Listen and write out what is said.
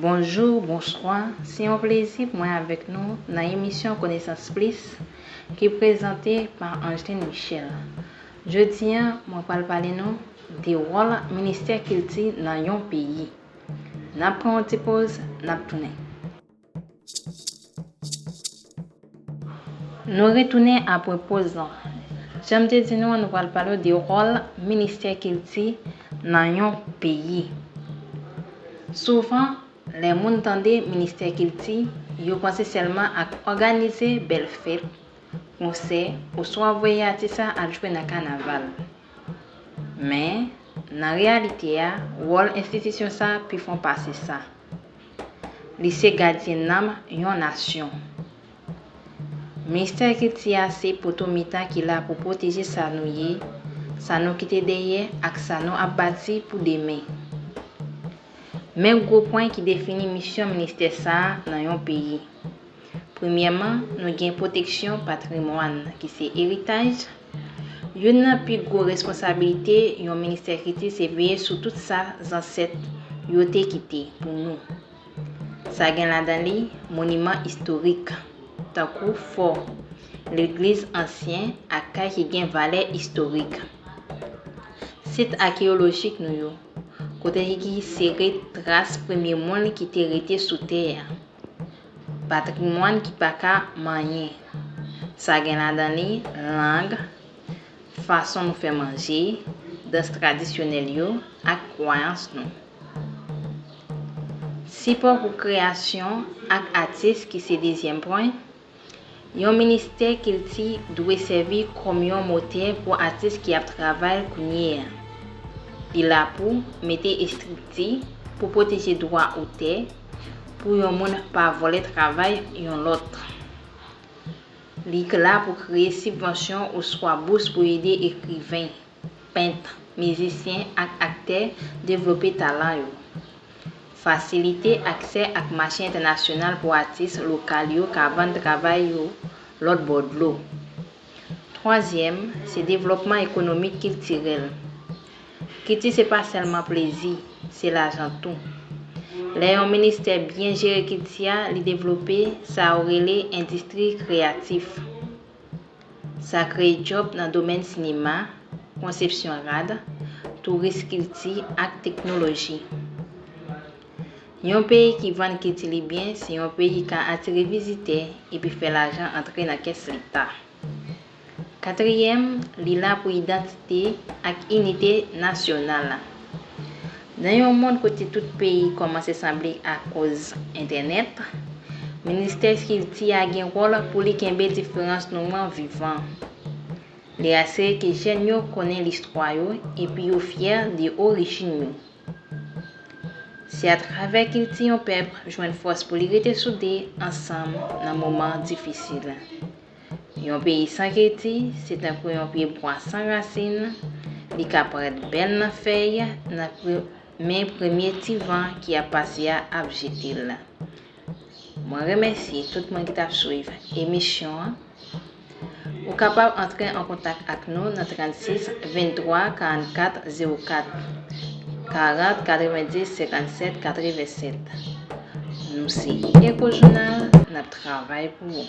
Bonjou, bonswa, se yon plezi pou mwen avèk nou nan emisyon Konesans Plis ki prezante pa Angeline Michel. Jodi a, mwen pral pale nou de wòl Ministè Kilti nan yon peyi. N ap pran yon ti poz, n ap tounen. Nou retounen apre poz lan. Jan m te di nou an, nou pral pale w de wòl ministè kilti nan yon peyi. Souvan, lè moun tande ministè kilti, yo panse sèlman ak òganize bèl fèt, konsè, oswa voye atis la al jwe nan kanaval. Men, nan reyalite a, wòl enstitisyon sa a pi fon pase sa. Li se gadyen nanm yon nasyon. Ministè kilti a se poto mitan ki la pou pwoteje sa nou ye, sa nou kite dèyè ak sa nou ap bati pou demen. Men gwo pwen ki defini misyon ministè sa a nan yon peyi. Premyèman, nou gen pwoteksyon patrimwàn ki se eritaj, Youn nan pi gwo responsabilite yon ministè kilti se veye sou tout sa zansèt yo te kite pou nou. Sa gen ladan li moniman istorik, tankou fò, legliz ansyen ak kay ki gen valè istorik. Sit akeyolojik nou yo, kote ki sere tras premye moun ki te rete sou tè a. Patrimwàn ki pa ka manyen. Sa gen ladan li lang, fason nou fè manje, dans tradisyonèl yo ak kwayans nou. Sipò pou kreyasyon ak atis ki se dezyèm pwen. Yon ministè kilti dwe sèvi kòm yon motè pou atis ki ap travay kounye a. Li la pou mete estrikti pou pwoteje dwa otè pou yon moun pa vòlè travay yon lòt. Li la pou kreye sibvansyon oswa bous pou ede ekriven. pent, mizisyen ak aktè devlope talan yo. Fasilite aksè ak mache entènasyonal pou atis lokal yo ka vann travay yo lòt bò dlo. Twazyèm, se devlòpman ekonomik kiltirèl. Kilti se pa sèlman plezi, se lajan tou. Lè yon ministè byen jere kilti a, li devlope sa yo rele endistri kreyatif. Sa kreye djòb nan domèn sinema, konsepsyon rad, touris kilti ak teknoloji. Yon peyi ki vann kilti li byen se yon peyi ka atire vizitè epi fè lajan antre nan kès leta. Katriyèm, li la pou idantite ak inite nasyonal. Nan yon mond kote tout peyi kòmanse sanble akoz entènèt, Ministè Kilti a gen wòl pou li kenbe diferans nou an vivan. Li asire ke jèn yo konnen listwa yo epi yo fyè de orijin yo. Se atravè kilti yon pèp jwenn fòs pou li rete soude ansanm nan moman difisil. Yon peyi san kilti, se tankou yon pye bwa san rasin, li ka parèt bèl nan fèy, nan pri, men premye ti van ki ap pase a ap jete l. Mwen remèsye tout moun ki t ap swiv emisyon an. Ou kapab antre an kontak ak nou nan 36 23 44 04 40 90 57 87. Nou se Echo Jounal, n ap travay pou ou!